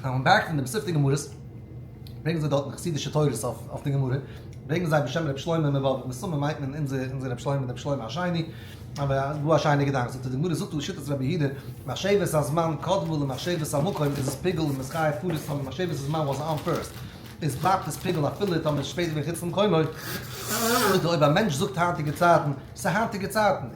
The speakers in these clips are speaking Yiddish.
אויף א בארג פון די מסופטע גמרות ברענגען זיי דארטן חסידישע תורות אויף די גמרא, ברענגען זיי בשם רבי שלמה מבאבוב, מסתמא מיינט מען אונזער רבי שלמה, רבי שלמה השני, אבער גאר א שיינע געדאנק, זאגט ער, די גמרא זאגט לשיטת רבי יהודה, מחשבת הזמן קדמה למחשבת המקום, איז עס פיגול און מזכיר פאראויס טאמער מחשבת הזמן וואס אן פירסט, איז בלייבט עס פיגול אפילו טאמער עס איז שפעט געווען חוץ פון קומעו, אויב א מענטש זאגט היינטיגע צייטן, ס'איז היינטיגע צייטן,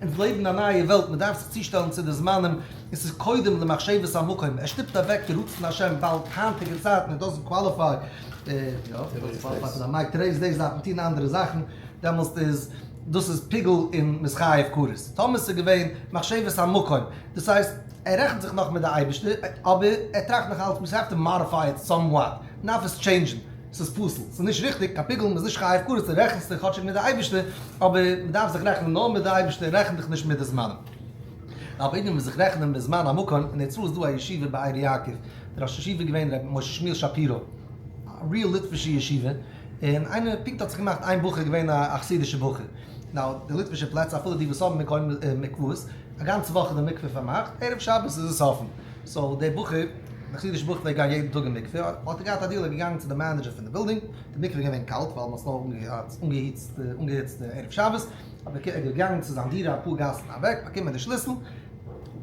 אונז לעבן אין א נייע וועלט, מען דארף זיך צושטעלן צו די זמנים, און ס'איז קודם למחשבת המקום, ער שטופט אוועק די רצון השם ווייל היינטיגע צייטן איט דאזענט קוואליפיי, מיי טודעיס דעיס דארף מען טון אנדערע זאכן, דעמאלסט איז דאס איז פיגול און מ'איז חייב כרת, טאמער ס'איז געווען מחשבת המקום, דאס הייסט ער רעכנט זיך נאך מיט די אייבערשטער, אבער ער טראכט נאך אלץ, מ'האף טו מאדיפיי איט סאם וואט, מ'דארף עס טשעינדזשן, ס'איז פסול, ס'איז נישט ריכטיג, קיין פיגול, מ'איז נישט חי הפקרות, דו רעכנסט דיך כאטשיג מיט די אייבערשטער, אבער מ'דארף זיך רעכענען נאר מיט די אייבערשטער, רעכן דיך נישט מיט די זמנים. רוב אידן וועלן זיך רעכענען מיט זמן המקום, אין הערצאל איז דא א ישיבה באר יעקב, דער ראש ישיבה איז געווען ר' משה שמואל שפירא, א ריעל ליטווישע ישיבה, און איינער פונקט האט זיך געמאכט איין בחור געווען א חסידישע בחור, נאו, די ליטווישע פלעצער אפילו די וואס האבן מקוה מקוואות, א גאנצע וואך איז די מקווה פארמאכט, ערב שבת איז עס אפן. סאו דער בחור, דער חסידישער בחור פלעגט גיין יעדן טאג אין מקווה, האט ער געהאט א דיעל, ער איז געגאנגען צו די מענעדזשער פון די בילדינג, די מקווה איז געווען קאלט ווייל מען האט עס נאר אנגעהיצט אנגעהיצט ערב שבת, האט ער איז געגאנגען צו זיין דירה אפאר גאסן אוועק, באקומען די שליסל,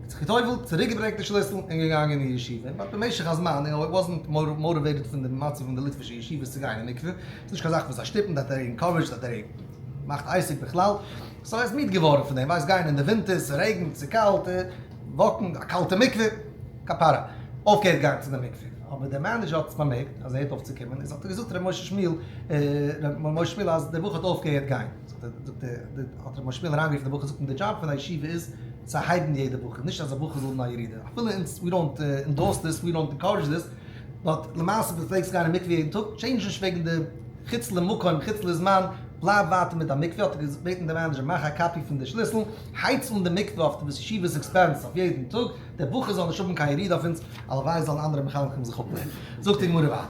זיך גע'טובל'ט, צוריק געברענגט די שליסל, און געגאנגען אין ישיבה, און דארט במשך הזמן, ער וואזנט מאוטיוועיטעד פון די מצב פון די ליטווישע ישיבות צו גיין אין מקווה, ס'איז נישט קיין זאך וואס זיי שטופן, זיי ענקארעדזשד, אז דער מאכט עיסוק בכלל, סאו ער איז מיד געווארן פון דעם, ווייסט גיין אין די ווינטער, ס'רעגנט, ס'קאלט, וואקן, א קאלטע מקווה, כפרה, אויפגעהערט גיין צו די מקווה, אבער דער מענעדזשער האט עס באמערקט אז ער הערט אויף צו קומען, און זאגט ער האט געזאגט ר' משה שמואל, ר' משה שמואל אז דער בחור האט אויפגעהערט גיין, זאגט ער, האט ר' משה שמואל אריין גערופן דער בחור, זאגט אים די דזשאב פון א ישיבה איז צו הייבן יעדע בחור, נישט אז א בחור זאל האבן א ירידה, אפילו אונז, ווי דאנט אינדארס דיס, ווי דאנט אינקארעדזש דיס, באט למעשה ווען דו פלעגסט גיין אין מקווה יעדן טאג, טשעינדזש נישט וועגן די חוץ למקום חוץ לזמן, בלייב ווייטער מיט דיין מקווה, האט ער געבעטן דער מענעדזשער מאך א קאפי פון די שליסל, הייץ אן די מקווה אויף די ישיבה'ס עקספענס אויף יעדן טאג, דער בחור זאל נישט האבן קיין ירידה אויף אונז, הלוואי זאלן אנדערע מחנכים זיך אפלערנען. זאגט די גמרא ווייטער.